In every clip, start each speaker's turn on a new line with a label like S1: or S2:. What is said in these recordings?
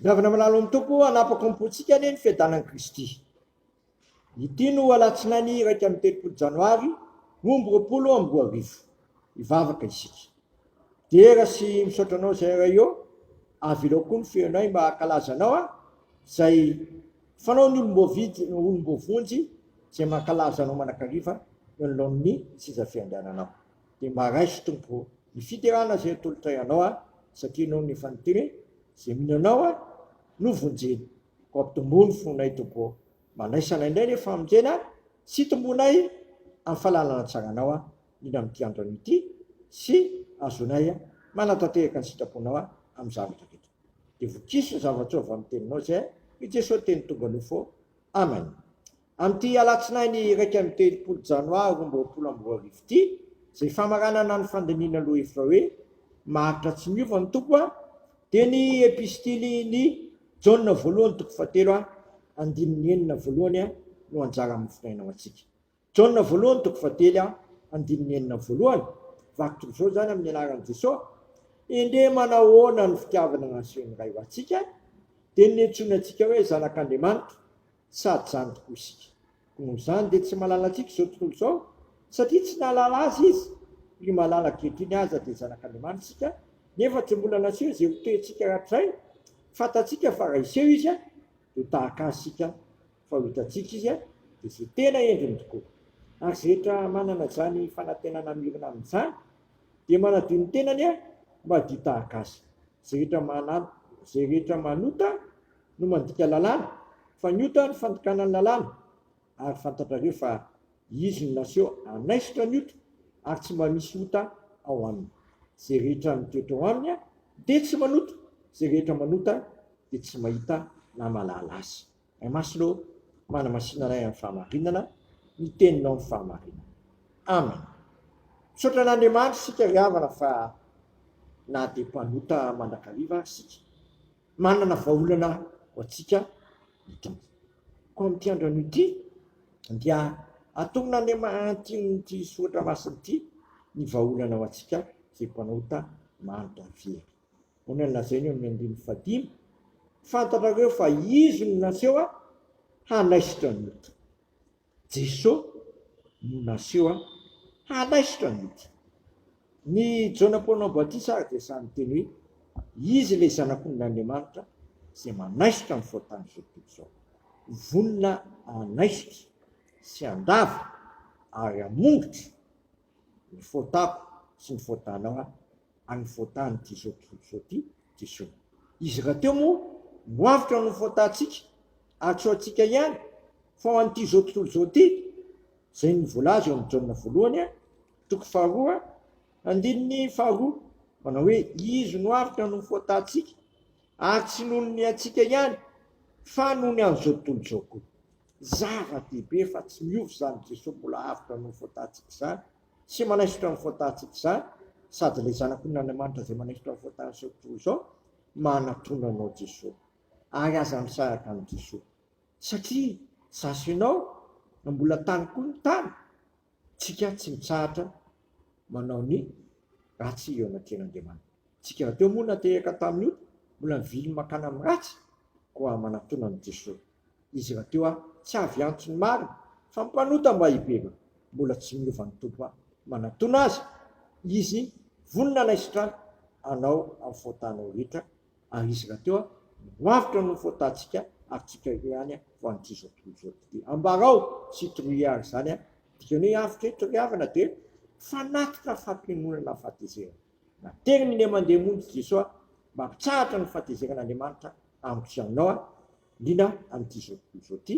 S1: Miavana malalo amin'ny Tompo hanapaka ny pontsika anie ny fiadanan'i Kristy. Ity no alatsinainy iraika amby telopolo janoary roa amby roapolo amby roa arivo. Hivavaka isika. Dera sy misaotra anao izay iray eo, avelao koa ny firenay mba hankalaza anao a, izay fanao ny olom-boavidy, ny olom-boavonjy izay mankalaza anao manakariva eo anoloan'ny seza fiandriananao. Dia mba raiso tompoko ô! Ny fiderana izay atolotray anao aho, satria noho ny efa niteny hoe, Izay mino anao aho no vonjena. Koa ampitomboy ny fonay tompoko ô! Manaisa anay indray ny famonjena sy hitomboanay amin'ny fahalalana tsara anao aho, indrindra amin'ity andro anio ity, sy hahazoanay manatanteraka ny sitraponao amin'ny zavatra rehetra. Dia vokiso ny zava-tsoa avy amin'ny teninao izay, hoy Jesoa teny tonga nofo. Amen. Amin'ity alatsinainy iraika amby telopolo janoary roa amby roapolo amby roa arivo ity, izay famaranana ny fandinihana lohahevitra hoe Maharitra Tsy Miova ny Tompo aho, dia ny Epistilin'i Jaona voalohany toko fahatelo andininy enina voalohany no anjara mifinaina ho antsika. Jaona voalohany toko fahatelo andininy enina voalohany, Vaky toy izao izany amin'ny anaran'i Jesoa, Endrey manahoana ny fitiavana nasehon'ny Ray ho antsika, dia ny niantsoany antsika hoe zanak'Andriamanitra. sady izany tokoa isika. Noho izany dia tsy mahalala antsika izao tontolo izao, satria tsy nahalala azy izy. Ry malala ankehitriny aza dia zanak'Andriamanitra isika, nefa tsy mbola naseho izay ho toentsika hatrizay. Fantatsika fa raha hiseho izy dia ho tahaka azy isika, fa ho hitantsika izy dia izay tena endriny tokoa. Ary izay rehetra manana izany fanantenana mirona amin'izany dia manadio ny tenany mba hadio tahaka azy. Izay rehetra izay rehetra manota no mandika lalàna fa ny ota ny fandikana ny lalàna ary fantatrareo fa izy no naseho hanaisotra ny ota ary tsy mba misy ota ao aminy zay rehetra mitoetra ao aminy dia tsy manota zay rehetra manota dia tsy mahita na mahalala azy Ray Masina ô manamasina anay amin'ny fahamarinana ny teninao amin'ny fahamarinana Amen Misaotra an'Andriamanitra isika ry havana fa na dia mpanota mandrakariva ary isika Manana vahaolana ho antsika ny Tompo. Koa amin'ity andronio ity dia atonina any atin'ity soratra masina ity ny vahaolana ho antsika izay mpanota maro dia very. Ahoana no lazainy eo amin'ny andininy fahadimy, Fantatrareo fa Izy no naseho hanaisotra ny ota. Jeso no naseho an. Halaisotra ny ity. Ny Jaona Mpanao Batisa ary dia sahy niteny hoe, Izy ilay Zanak'ondrin' Andriamanitra izay manaisotra ny fahotan' izao tontolo izao. Vonona hanaisotra sy handava ary hamongotra ny fôtako sy ny fôtanao an, ary ny fôtan'ity zao tontolo zao ity dia zao, izy rahateo moa no avotra ny fôtantsika ary tsy ho antsika ihany fa ho an'ity zao tontolo zao ity, izay no voalaza eo amin'ny Jaona voalohany an, toko faharoa andininy faharoa, manao hoe, izy no avotra ny fôtantsika ary tsy noho ny antsika ihany fa noho ny an'izao tontolo izao koa. Zava-dehibe fa tsy miova izany Jesoa mbola avotra noho ny fahotantsikz izany sy manaisotra ny fahotantsikz izany sady ilay Zanakon Andriamanitra izay manaisotra ny fahotantsikz toy izao manatona anao Jesoa ary aza misaraka amin'i Jesoa satria za sy ianao mbola tany koa ny tany tsika tsy mitsahatra manao ny ratsy eo anatrehan Andriamanitra tsika rahateo moa nateraka tamin'ny ota mbola mivily mankana amin'ny ratsy koa manatona an'i Jesoa. Izy rahateo aho tsy avy antony maro fa mpanota mba hibebaka mbola tsy miova ny Tompo aho manatona azy izy vonona anay sitraly anao am faotanao rehetra ary izy rahateo aho miroavotra noho faotantsika ary tsika ireo ihany aho vao anty izao tontolo izao ity dia ambarao sy toroy ary izany a dikany hoe avotra eto ry havana dia fanatitra fampionona na fahatezerana nateriny ny aman-dia monjy Jesoa mba ampitsahatra ny fahatezeran'Andriamanitra amiko sy aminao a. Liana amin'ity izao tontolo izao ity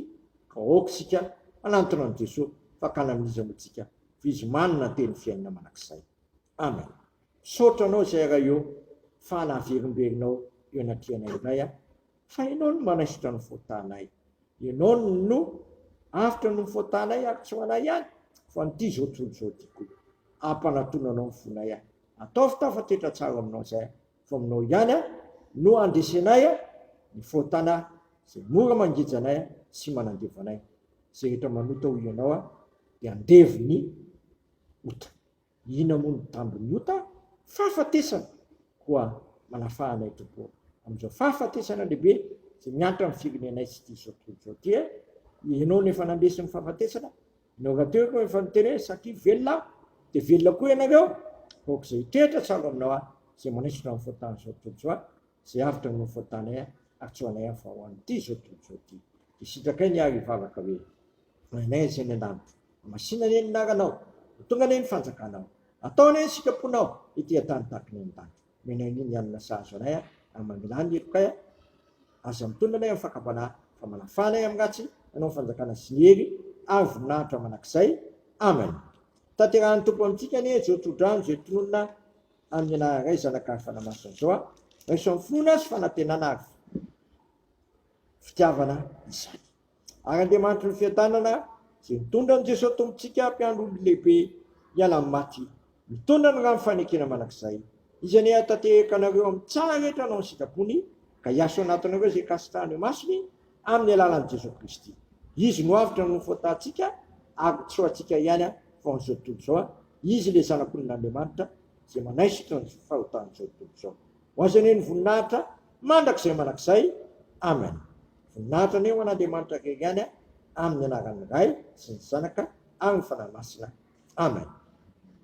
S1: ka aoka isika hanantona an'i Jesoa fakana amin'iza moa tsika f'izy manana teny fiainana manak'izay. Amen. Misaotra anao izay Ray ô fa naverimberenao eo anatrehanay indray a. Fa Ianao no manaisotra ny faotanay. Ianao no avotra noho ny faotanay ary tsy ho anay ihany fa an'ity izao tontolo izao ity koa. Ampanatona Anao ny fonay a. Ataovy tafatr'etra tsara aminao izay a. Fa aminao ihany aho no handresenay ny fahotana izay mora mangeja anay sy manandevo anay. Izay rehetra manota ho ianao dia andevo ny ota. Inona moa no tambin'ny ota? Fahafatesana! Koa manafaha anay Tompo ô, amin'izao fahafatesana lehibe izay miantra amin'ny firenenay sy ity izao tontolo izao ity. Ianao no efa nandresy ny fahafatesana Ianao rahateo aloha efa niterena satria velona aho dia velona koa ianareo aoka izay hitoetra tsy avo aminao ahy izay manaisotra ny fahotan'izao tontolo izao ahy izay avotra noho ny fahotanay ahy ary tsy ho anay aho fa ho an'ity izao tontolo izao ity dia sitrakay ny ahy ry vavaka hoe Ray anay izay any an-danitra masina anie ny anaranao ho tonga anie ny fanjakanao atao anie ny sitraponao ety an-tany tahaka ny any an-danitra. Menahiny ny alina sahaza anay a, ary mamelà ny helokay a, aza mitolona anay amin'ny fakam-panahy, fa manafaha anay amin'ny ratsy, hanao ny fanjakana sy ny hery ary voninahitra mandrakizay. Amen. Tanterahan'ny Tompo amintsika anie izao tsodrano izay tononina amin'ny anarany Ray, Zanaka ary Fanahy Masina izao a. Raiso amin'ny finoana sy fanantenana ary fitiavana izany. Ary Andriamanitry ny fiadanana izay nitondra an'i Jesoa Tompontsika mpiandry olona lehibe hiala amin'ny maty, mitondra ny rano fanekena mandrakizay, Izy anie hahatanteraka anareo amin'ny tsara rehetra hanao ny sitrapony, ka hiaso anatinareo izay kasitrahany ho masony, amin'ny alalan'i Jesoa Kristy. Izy no avotra noho ny fahotantsika, ary ho tsy ho antsika ihany fa ho an'izao tontolo izao, Izy ilay Zanak'olon'Andriamanitra izay manaisotra ny fahotan'izao tontolo izao. Ho Azy anie ny voninahitra mandrakizay mandrakizay. Amen. Voninahitra anie ho an'Andriamanitra irery ihany a! Amin'ny anaran'ny Ray sy ny Zanaka ary ny Fanahy Masina. Amen.